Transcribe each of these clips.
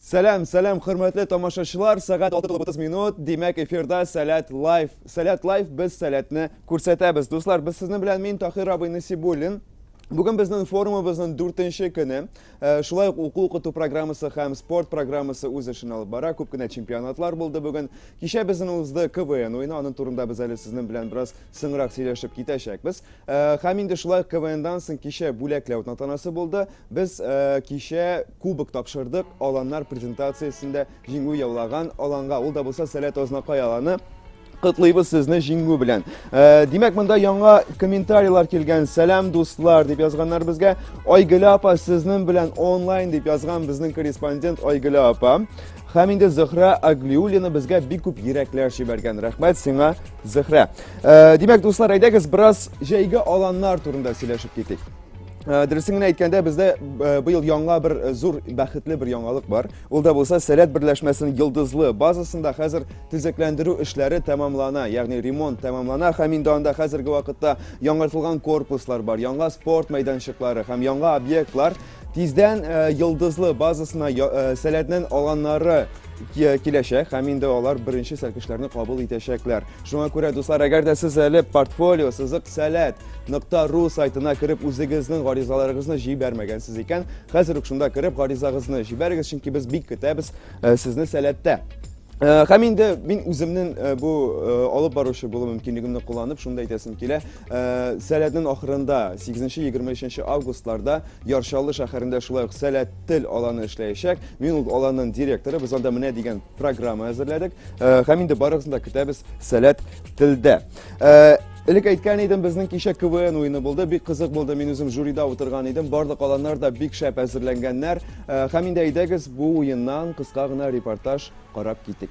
Сәлам, сәлам, хөрмәтле тамашачылар, сәгать 6.30 минут, димәк эфирда Сәләт Лайф. Сәләт Лайф, без сәләтне күрсәтәбез. Дуслар, без сезнең белән мин Тахир абый Насибуллин. Бүген безнең форумыбызның дүртенче көне. Э, шулай ук уку укыту программасы һәм спорт программасы үз эшен алып бара. Күп кенә чемпионатлар булды бүген. Кичә безнең узды КВН уены, аның турында без әле сезнең белән бераз соңрак сөйләшеп китәчәкбез. Һәм инде шулай ук КВНдан соң кичә бүләкләү тантанасы булды. Без кичә кубок тапшырдык аланнар презентациясендә җиңү яулаган аланга. Ул да булса Сәләт Азнакай аланы. Котлыйбыз сезне җиңү белән. Димәк, монда яңа комментарийлар килгән. Сәлам, дуслар, дип язганнар безгә. Айгөл апа, сезнең белән онлайн, дип язган безнең корреспондент Айгөл апа. Хәм инде Зөхрә Аглиулина безгә бик күп йөрәкләр җибәргән. Рәхмәт сиңа, Зөхрә. Э, димәк, дуслар, әйдәгез бераз җәйге аланнар турында сөйләшеп китик. Э, дөресен генә әйткәндә, бездә э, быел яңа бер э, зур бәхетле бер яңалык бар. Ул да булса Сәләт берләшмәсенең Йылдызлы базасында хәзер төзекләндерү эшләре тәмамлана, ягъни ремонт тәмамлана һәм инде анда хәзерге вакытта яңартылган корпуслар бар, яңа спорт мәйданчыклары һәм яңа объектлар Тиздән э, йылдызлы базасына э, сәләтнен алганнары киләчәк һәм инде алар беренче сәлкешләрне кабул итәчәкләр. Шуңа күрә, дуслар, әгәр дә сез әле портфолио сызык сәләт нокта ру сайтына кереп үзегезнең гаризаларыгызны җибәрмәгәнсез икән, хәзер үк шунда кереп гаризагызны җибәрегез, чөнки без бик көтәбез э, сезне сәләттә. Һәм инде мин үземнең бу алып баручы булу мөмкинлегемне кулланып, шунда әйтәсем килә, Сәләтнең ахырында, 8-23 августларда Ярчаллы шәһәрендә шулай ук Сәләт тел аланы эшләячәк. Мин ул аланның директоры. Без анда менә дигән программа әзерләдек. Һәм инде барыгызны да көтәбез Сәләт телдә. Элек әйткән идем, безнең кичә КВН уены булды. Бик кызык булды. Мин үзем жюрида утырган идем. Барлык аланнар да бик шәп әзерләнгәннәр. Һәм инде әйдәгез бу уеннан кыска гына репортаж карап китик.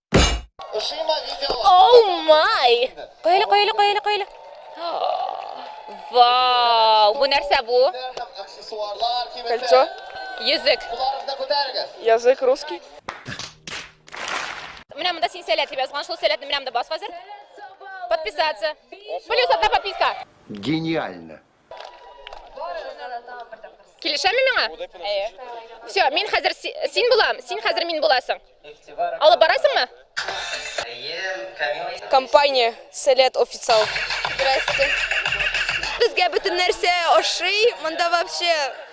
Оу май! Коелы, коелы, коелы, коелы. Вау! Бу нәрсә бу? Кольцо. Йөзек. Язык русский. Менә монда син сәләт дип язган, шул сәләтне менә монда бас хәзер. Подписаться. Плюс одна подписка. Гениально. Килешәме миңа? Әйе. Все, мин хәзер син булам, син хәзер мин буласың. Алып барасыңмы? Компания Сәләт официал. Здрасте. Безгә бөтен нәрсә ошый. Монда вообще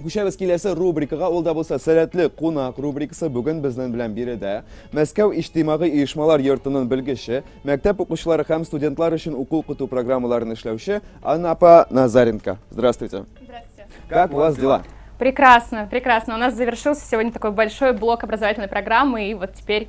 Күчәбез киләсе рубрикага, ул да булса сәләтле кунак рубрикасы. Бүген безнең белән биредә Мәскәү иҗтимагый оешмалар йортының белгече, мәктәп укучылары һәм студентлар өчен уку укыту программаларын эшләүче Анна апа Назаренко. Здравствуйте. Здравствуйте. Как у вас дела? Прекрасно, прекрасно. У нас завершился сегодня такой большой блок образовательной программы, и вот теперь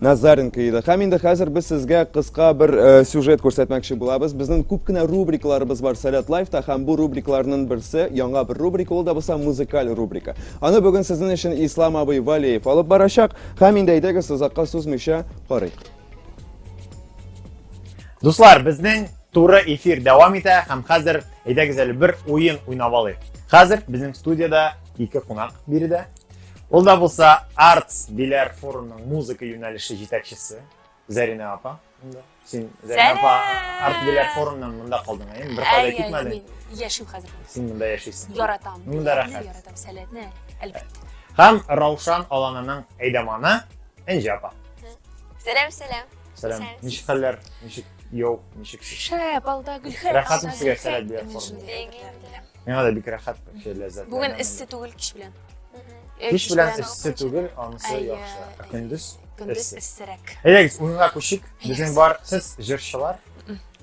Назаренко иде. Һәм инде хәзер без сезгә кыска бер э, сюжет күрсәтмәкче булабыз. Безнең күп кенә рубрикаларыбыз бар Сәләт Лайфта һәм бу рубрикаларның берсе яңа бер рубрика, ул да булса музыкаль рубрика. Аны бүген сезнең өчен Ислам абый Валеев алып барачак һәм инде әйдәгез озакка сузмыйча карыйк. Дуслар, безнең туры эфир дәвам итә һәм хәзер әйдәгез әле бер уен уйнап алыйк. Хәзер безнең студияда ике кунак биредә Ул да булса Arts Биләр форумның музыка юнәлеше җитәкчесе Зәринә апа. Син Зәринә апа Arts Биләр форумнан монда калдың, әйеме? Бер кайда китмәдең. Яшим хәзер. Син монда яшисең. Яратам. Монда рәхәт. Яратам сәләтне, әлбәттә. Һәм Раушан Алананың әйдәманы Энҗе апа. Сәлам, сәлам. Сәлам. Ничек хәлләр? Ничек яу, ничек? Шәп, алда гөлхәр. Рәхәтме сезгә сәләт бирә форма? Миңа да бик рәхәт кеше ләззәтле. Бүген эссе түгел кич белән. Э, Кич белән эссе түгел, анысы Әйе. яхшы. Ә көндез Көндез эссе. эссерәк. Әйдәгез, уенга күчик. Безнең бар сез җырчылар.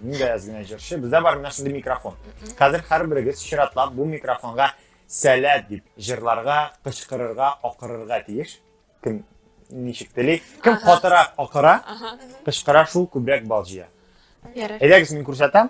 Мин дә әз генә җырчы. Бездә бар менә шундый микрофон. Хәзер һәрберегез чиратлап бу микрофонга сәләт дип җырларга, кычкырырга, акырырга тиеш. Кем ничек тели? Кем Ага. катырак акыра, Ага. кычкыра шул күбрәк бал җыя. Ярар. Әйдәгез, мин күрсәтәм.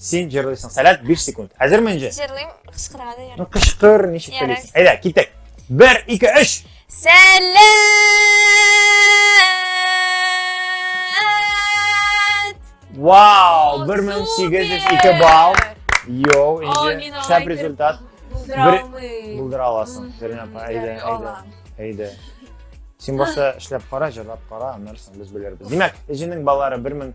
Син җырлыйсың. Сәләт 5 секунд. Хәзерме инде? Җырлыйм, кычкырырга да ярый. Ну кычкыр, ничек Ярар. телисең. Әйдә, китек. 1 2 3. Сәләт! Вау, 1802 балл. Йоу, инде шәп результат. Булдыра аласың. Зәринә апа, әйдә, әйдә. Әйдә. Син башта эшләп кара, җырлап кара, аннары без белербез. Димәк, Эҗенең балалары 1000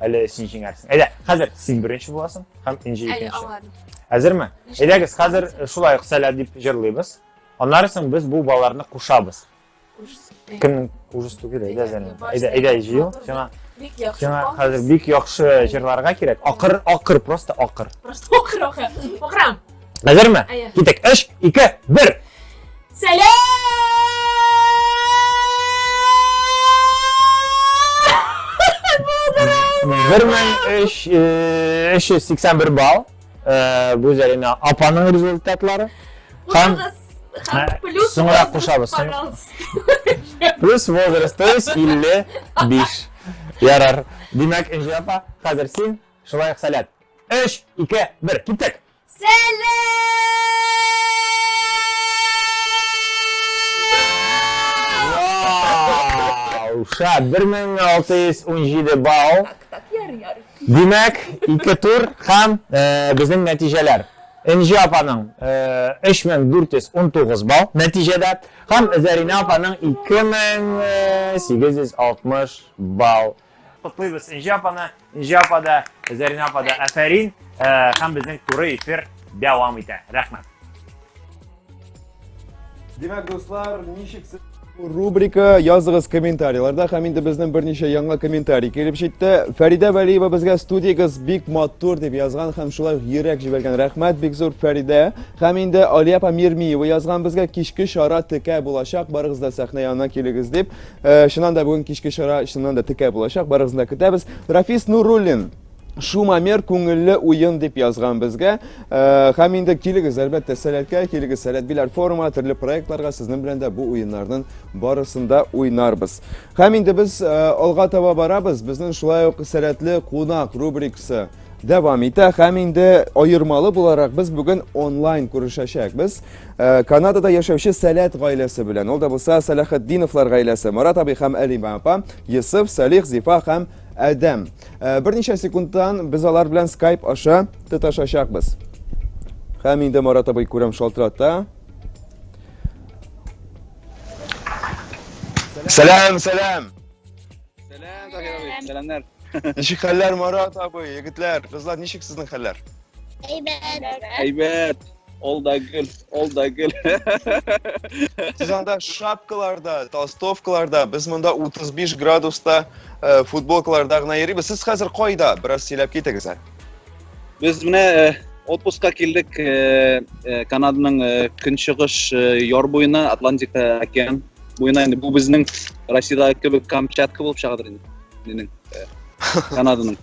Әле син җиңәрсең. Әйдә, хәзер син беренче буласың һәм Энҗе Әле икенче. аңладым. Әзерме? Нишләп Әйдәгез, хәзер аңладың? э, шулай ук сәлә дип җырлыйбыз. Аннары соң без бу балаларны кушабыз. Ужас. Кемнең ужас түгел, әйдә Зәлим. Әйдә, әйдә җыел. Сиңа Бик яхшы. сиңа Бал. хәзер бик яхшы җырларга кирәк. Акыр, акыр, просто акыр. Просто окыр, окыр. Окырам. Әзерме? Әйе. Китек. Өш, ике, бер. Сәләм! Бер мең өш, өш йөз сиксән бер балл. Бу Зәринә апаның результатлары. Һәм плюс соңрак кушабыз. Плюс возраст, то есть 55. Ярар. Димәк, Энҗи апа, хәзер син Шулай ук сәләт. Өч, ике, бер, киттек! Вау! Шат, 1617 балл. Так, так, яр, яр. Димәк, ике тур һәм э, безнең нәтиҗәләр. Энҗи апаның э, 3419 балл нәтиҗәдә һәм Зарина апаның 2860 балл Котлыйбыз Энҗе апаны, Энҗе апа да, Зәринә апа да әфәрин һәм безнең туры эфир дәвам итә. Рәхмәт. Димәк, дуслар, ничек рубрика языгыз комментарийларда һәм инде безнең берничә яңа комментарий килеп җитте. Фәридә Вәлиева безгә студиягез бик матур дип язган һәм шулай йөрәк җибәргән. Рәхмәт бик зур Фәридә. Һәм инде Алия апа Мирмиева язган безгә кичке чара текә булачак, барыгыз да сәхнә янына килегез дип. Э, чыннан да бүгін кешке шара чыннан да текә булачак барыгызны да көтәбез рафис нуруллин шумамер күңелле уен деп язған бізге. Э, һәм инде килегіз әлбәттә сәләткә килегез сәләт биләр форума төрле проектларга сезнең белән дә бу уеннарның барысында уйнарбыз һәм инде без э, алга таба барабыз безнең шулай ук сәләтле кунак рубрикасы дәвам итә һәм инде аермалы буларак без бүген онлайн күрешәчәкбез э, канадада яшәүче сәләт гаиләсе белән ул да булса сәләхетдиновлар гаиләсе марат абый һәм әлима апа йосыф салих зифа һәм әдәм э, берничә секундтан без алар белән скайп аша тоташачакбыз һәм инде марат абый күрәм шалтырата сәлам сәлам Сәлам, Захир абый. Сәламнәр. Ничек хәлләр, Марат абый, егетләр, кызлар, ничек сезнең хәлләр? Әйбәт. Әйбәт. Ол да гел, ол да гел. Сез анда шапкаларда, толстовкаларда, без монда 35 градуста э, футболкаларда гына йөрибез. Сез хәзер кайда? Бераз сөйләп китегез әле. Без менә э, отпускка килдек э, э, Канаданың көнчыгыш яр буена, Атлантик океан буена. Инде бу безнең Россиядә кебек Камчатка булып чыгадыр инде. Минем Канаданың.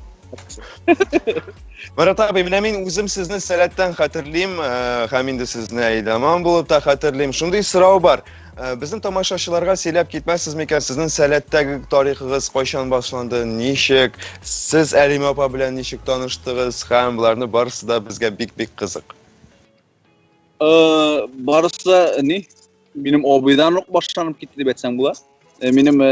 Марат абый, менә мин үзем сезне сәләттән хәтерлим, һәм инде сезне әйдаман булып та хәтерлим. Шундый сорау бар. Э, безнең тамашачыларга сөйләп китмәссез микән сезнең сәләттәге тарихыгыз кайчан башланды ничек сез әлимә апа белән ничек таныштыгыз һәм боларны барысы да безгә бик бик кызык э, барысы да ни минем абыйдан ук башланып китте дип әйтсәң була э, минем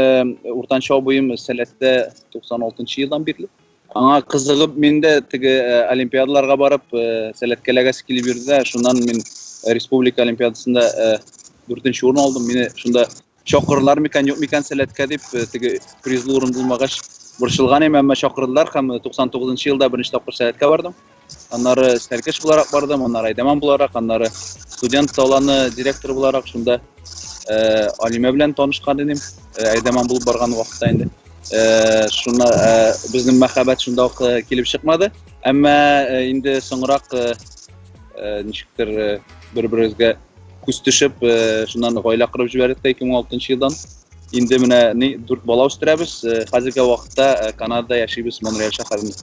уртанчы абыем сәләттә 96 елдан бирле Аңа кызыгып мин дә теге э, олимпиадаларга барып э, сәләткәләгәсе килеп йөрде дә, шуннан мин э, республика олимпиадасында дүртенче урын алдым. Мине шунда чакырдылар микән, юк микән сәләткә дип, теге призлы урын булмагач борчылган идем, әмма чакырдылар һәм 99 елда беренче тапкыр сәләткә бардым. Аннары Сәркеш буларак бардым, аннары Айдаман буларак, аннары студент таланы директоры буларак шунда э, Алимә белән танышкан идем. Э, Айдаман булып барган вакытта инде. Э, шуна э, безнең мәхәббәт шунда ук э, килеп чыкмады. Әмма э, инде соңрак э, э, ничектер э, бер-беребезгә күз төшеп, э, шуннан гаилә корып җибәрдек тә 2006 елдан. Инде менә ни дүрт бала үстерәбез. Э, Хәзерге вакытта э, Канадада яшибез Монреаль шәһәрендә.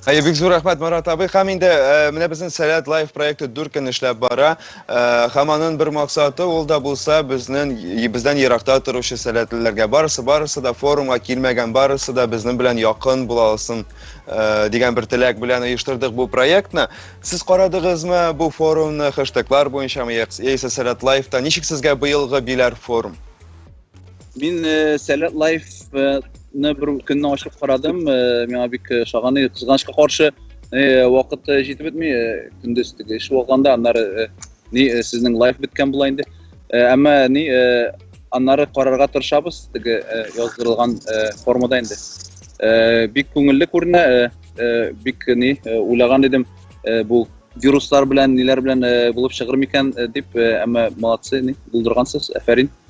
Әйе, бик зур рәхмәт, Марат абый. Хәм инде э, менә безнең Сәләт Лайф проекты дүрт көн эшләп бара. Э, хәм аның бер максаты ул да булса безнең бездән еракта торучы сәләтлеләргә барысы барысы да форумга килмәгән барысы да безнең белән якын була алсын э, дигән бер теләк белән оештырдык бу проектны. Сез карадыгызмы бу форумны хэштеглар буенча яисә Сәләт Лайфта? Ничек сезгә быелгы биләр форум? Мин Сәләт лайфны бер көнне ачып карадым, миңа бик шаган иде. Кызганычка каршы, вакыт җитеп бетми, көндез теге эш булганда, аннары ни сезнең лайф беткән була инде. Әмма ни аннары карарга тырышабыз, теге яздырылган формада инде. Бик күңелле күренә, бик ни уйлаган идем, бу вируслар белән, ниләр белән булып чыгыр микән дип, әмма молодцы, ни булдыргансыз, әфәрин.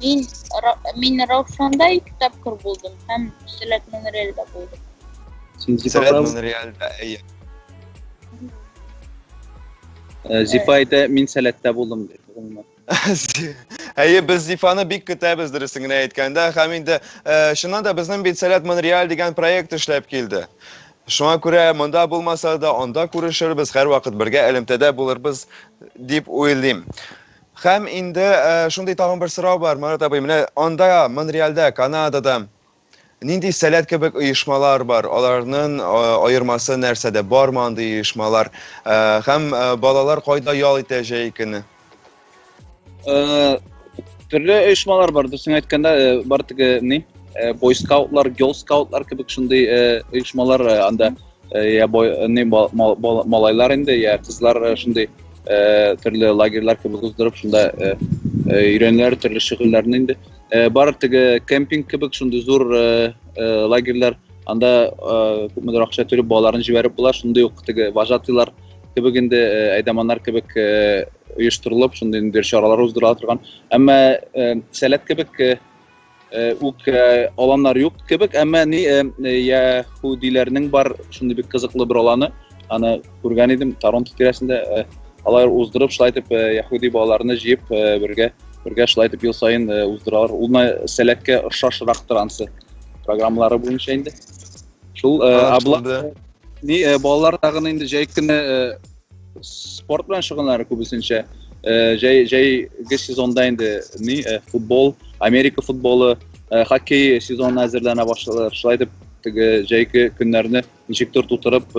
Мин, мин Раушанда ике тапкыр булдым һәм Сәләт Монреальда булдым. Син Сәләт Монреальда, әйе. Э, Зифайда мин Сәләттә булдым дип. Әйе, без Зифаны бик көтәбез дөресен генә әйткәндә, һәм инде э, чыннан да безнең бит Сәләт Монреаль дигән проект эшләп килде. Шуңа күрә монда булмаса да, анда күрешербез, һәрвакыт бергә элемтәдә булырбыз дип уйлыйм. Хәм инде шундый тагын бер сорау бар, Марат абый, менә анда Монреальдә, Канадада нинди сәләт кебек оешмалар бар, аларның аермасы нәрсәдә, бармы андый оешмалар, хәм балалар кайда ял итә җәй көне? Төрле оешмалар бар, дөресен әйткәндә, бар теге ни, бойскаутлар, гёлскаутлар кебек шундый оешмалар анда. Mm -hmm Я бой, не малайлар инде, я кызлар э, шундый э, төрле лагерьлар кебек уздырып, шунда э, өйрәнәләр төрле шөгыльләрне инде. Бар теге кемпинг кебек шундый зур лагерьлар, анда күпмедер акча төреп балаларын җибәреп була, шундый ук теге вожатыйлар кебек инде әйдаманнар кебек оештырылып, шундый инде чаралар уздырыла торган. Әмма сәләт кебек үк аланнар юк кебек, әмма ни яһүдиләрнең бар шундый бик кызыклы бер аланы, аны күргән идем Торонто тирәсендә, алар уздырып, шулай итеп яһүди балаларны җыеп бергә бергә шулай итеп ел саен уздыралар. Ул сәләткә ошашрактыр ансы программалары буенча инде. Шул абла ни балалар тагын инде җәй көне Спорт белән шөгыльләнә күбесенчә. Э, җәй җәйге сезонда инде ни э, футбол, Америка футболы, э, хоккей сезонына әзерләнә башлыйлар. Шулай итеп, теге җәйге көннәрне ничектер тутырып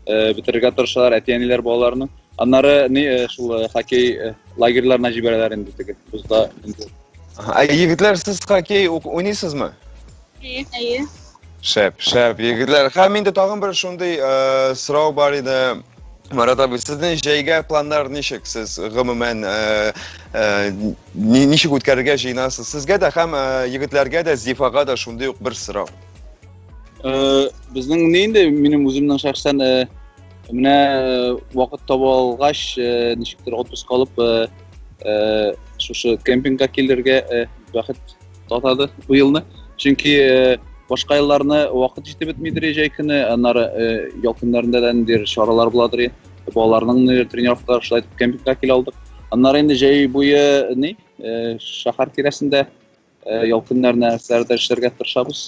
бетерергә тырышалар әти-әниләр балаларны. Аннары ни шул хоккей лагерьларына җибәрәләр инде теге бузда инде. Ә егетләр сез хоккей уйныйсызмы? Әйе, әйе. Шәп, шәп, егетләр. Һәм инде тагын бер шундый э, сорау бар иде. Марат абый, сезнең җәйгә планнар ничек? Сез гомумән э, э, ни- ничек үткәрергә җыенасыз? Сезгә дә һәм э, егетләргә дә, Зифага да шундый ук бер сорау. Э, Безнең ни инде минем үземнең шәхсән э, менә э, вакыт таба алгач, э, ничектер отпуск алып э, э, шушы кемпингка килергә э, бәхет Татады бу елны. Чөнки э, башка елларны вакыт җитеп бетмидер җәй көне, аннары э, ял көннәрендә дә ниндидер чаралар буладыр. Балаларның тренировкалар шулай итеп кемпингка килә алдык. Аннары инде җәй буе ни, э, шәһәр тирәсендә ял көннәренә нәрсәләрдә эшләргә тырышабыз.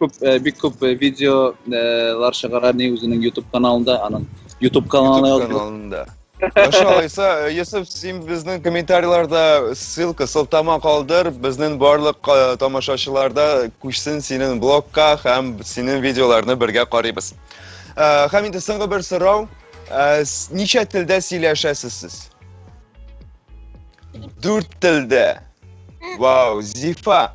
Күп, э, бик күп э, видеолар чыгара ни үзенең YouTube каналында, аның YouTube каналы YouTube язылып. каналында. Машалла, Иса, э, Йосыф, син безнең комментарийларда ссылка, сылтама калдыр, безнең барлык э, тамашачыларда күчсен синең блогка һәм синең видеоларны бергә карыйбыз. Э, Һәм инде соңгы бер сорау, Э, с- ничә телдә сөйләшәсез сез? Дүрт телдә. Вау, Зифа,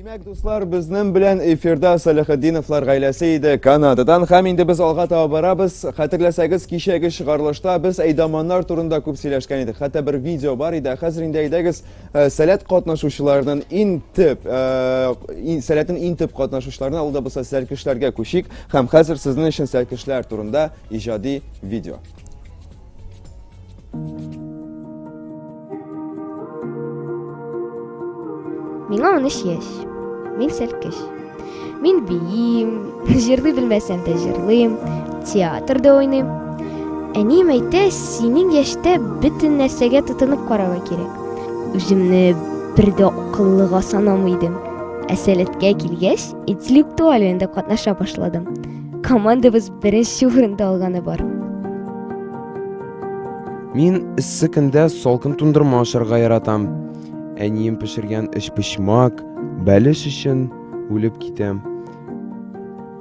Димәк, дуслар, безнең белән эфирда Салихатдиновлар гаиләсе иде Канададан. Һәм инде без алга таба барабыз. Хәтерләсәгез, кичәге чыгарылышта без әйдаманнар турында күп сөйләшкән идек. Хәтта бер видео бар иде. Хәзер инде әйдәгез, э, сәләт катнашучыларының иң төп, э, сәләтнең иң төп катнашучыларына, ул да булса сәлкешләргә күчик. Һәм хәзер сезнең өчен сәлкешләр турында иҗади видео. Миңа 13 яшь. Мин сәлкеш. Мин биим, җырлый белмәсәм дә җырлыйм, театрда уйныйм. Әнием әйтә, синең яшьтә бөтен нәрсәгә тотынып карарга кирәк. Үземне бер дә акыллыга санамый идем. Ә сәләткә килгәч, интеллектуаль уенда катнаша башладым. Командабыз Беренче урында алганы бар. Мин эссе көндә салкын тундырма ашарга яратам. Әнием пешергән эчпочмак, бәлеш өчен үлеп китәм.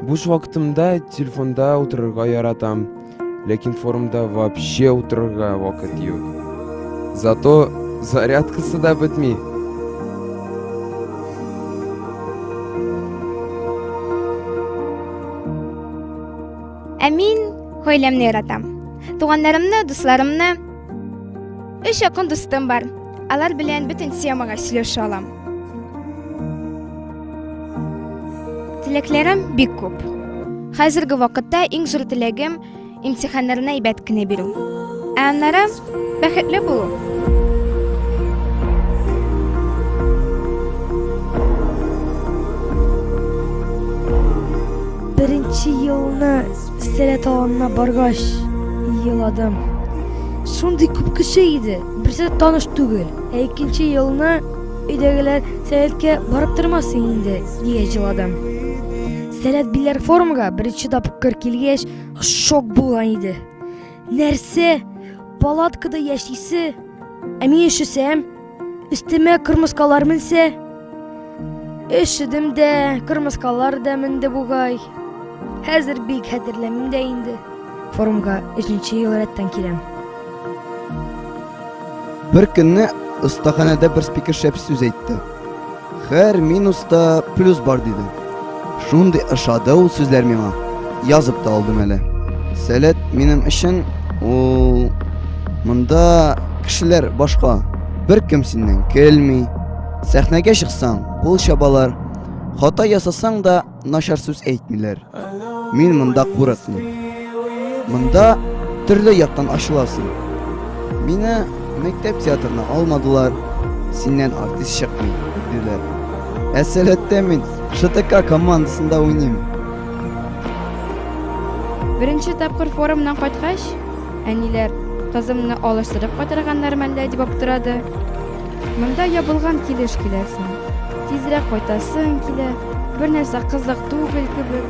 Буш вакытымда телефонда утырырга яратам, ләкин форумда вообще утырырга вакыт юк. Зато зарядкасы да бетми. Ә мин гаиләмне яратам. Туганнарымны, дусларымны. Өч якын дустым бар. Алар белән бөтен темага сөйләшә алам. Теләкләрем бик күп. Хәзерге вакытта иң зур теләгем Имтиханнарны әйбәт кенә бирү. Ә аннары бәхетле булу. Беренче елны Сәләт аланына баргач еладым. Шундый күп кеше иде, берсе таныш түгел. Ә икенче елны өйдәгеләр Сәләткә барып тормасын инде, дигәч еладым. Сәләт биләр форумга беренче тапкыр килгәч, Шок булган иде. Нәрсә? Палаткада яшисе? Ә мин өшесәм, өстемә кырмыскалар менсә? Өшедем дә, кырмыскалар да менде бугай. Хәзер бик хәтерләмим дә инде. Форумга 3 ел рәттән киләм. Бер көнне остаханәдә бер спикер шәп сүз әйтте. Хәр минуста плюс бар диде. Шундый ошады ул сүзләр миңа. Язып та алдым әле. Сәләт минем өчен ул монда кешеләр башка. Бер кем синнән көлми. Сәхнәгә чыксаң, кул чабалар. Хата ясасаң да, начар сүз әйтмиләр. Мин монда курыкмыйм. Монда төрле яктан ачыласың. Мине мәктәп театрына алмадылар. Синнән артист чыкмый, диләр. Ә сәләттә мин ШТК командасында уйныйм. Беренче тапкыр форумнан кайткач, Әниләр, Кызымны алыштырып кайтарганнар мәллә? дип аптырады. Монда ябылган килеш киләсең. Тизрәк кайтасың килә, бернәрсә кызык түгел кебек.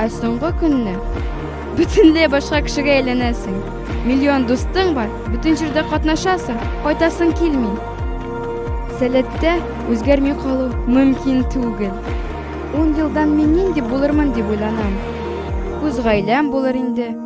Ә соңгы көнне бөтенләй башка кешегә әйләнәсең. Миллион дустың бар, бөтен җирдә катнашасың, кайтасың килми. Сәләттә үзгәрми калу мөмкин түгел. Ун елдан мин нинди булырмын дип уйланам. Үз гаиләм булыр инде.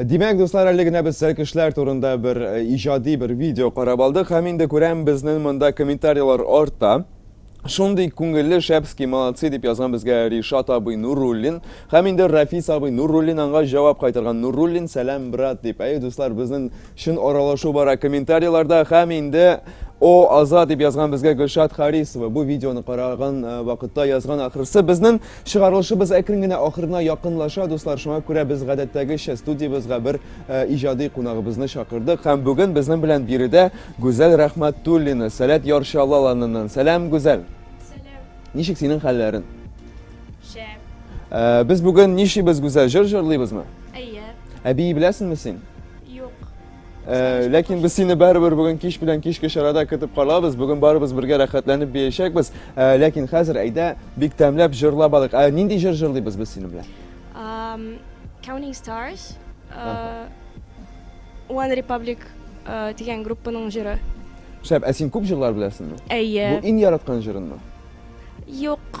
Димәк, дуслар, әле генә без сәркешләр турында бер э, иҗади бер видео карап алдык һәм инде күрәм безнең монда комментарийлар арта. Шундый күңелле шәпски молодцы дип язган безгә Ришат абый Нуруллин һәм инде Рафис абый Нуруллин аңа җавап кайтарган Нуруллин сәлам брат дип. Әй дуслар, безнең чын аралашу бара комментарийларда һәм инде О, Аза дип язган безгә Гөлшат Харисова. Бу видеоны караган э, вакытта язган ахрысы безнең Чыгарылышыбыз әкрен генә ахырына якынлаша, дуслар, шуңа күрә без гадәттәгечә студиябезгә бер э, иҗади кунагыбызны чакырдык һәм бүген безнең белән биредә Гүзәл Рәхмәтуллина, Сәләт Ярчалаланыннан. Сәлам, Гүзәл. Сәлам. Ничек синең хәлләрең? Шәп. Э, без бүген нишибез, Гүзәл, җыр җырлыйбызмы? Әйе. Әби беләсеңме син? Э, ләкин без сине барыбер бүген кич белән кичке чарада көтеп калабыз. Бүген барыбыз бергә рәхәтләнеп биячәкбез. Э, ләкин хәзер әйдә бик тәмләп җырлап алыйк. Ә нинди җыр җырлыйбыз без синең белән? Um, Counting Stars, uh, One Republic uh, дигән группаның җыры. Шәп, ә син күп җырлар беләсеңме? Әйе. Бу иң яраткан җырыңмы? Юк.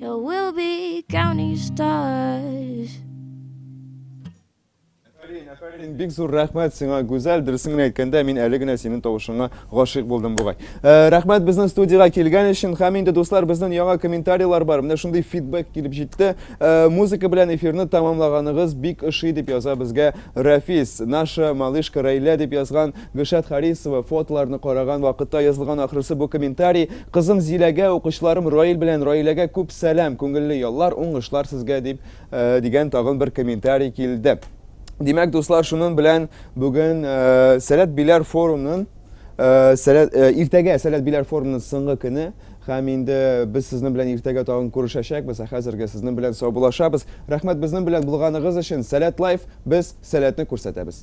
You will be counting stars. Афәрин, афәрин, бик зур рәхмәт сиңа, Гүзәл. Дөресен генә әйткәндә, мин әле генә синең тавышыңа гашыйк булдым бугай. Э, рәхмәт безнең студиягә килгән өчен. Һәм инде дуслар, безнең яңа комментарийлар бар. Менә шундый фидбэк килеп җитте. Э, музыка белән эфирны тәмамлаганыгыз бик ошый дип яза безгә Рафис. Наша малышка Рәйлә дип язган. Гөлшат Харисова фотоларны караган вакытта язылган ахрысы бу комментарий, Кызым Зиләгә, укучыларым Раил белән Раиләгә күп сәлам, күңелле яллар, уңышлар сезгә, дип, дигән тагын бер комментарий килде. Димәк, дуслар, шунын белән бүген Сәләт Биләр форумнын иртәгә Сәләт Биләр форумнын соңгы көне һәм инде без сезнең белән иртәгә тагын күрешәчәкбез, ә хәзергә сезнең белән саубулашабыз. Рәхмәт безнең белән булганыгыз өчен! Сәләт Лайф, без сәләтне күрсәтәбез!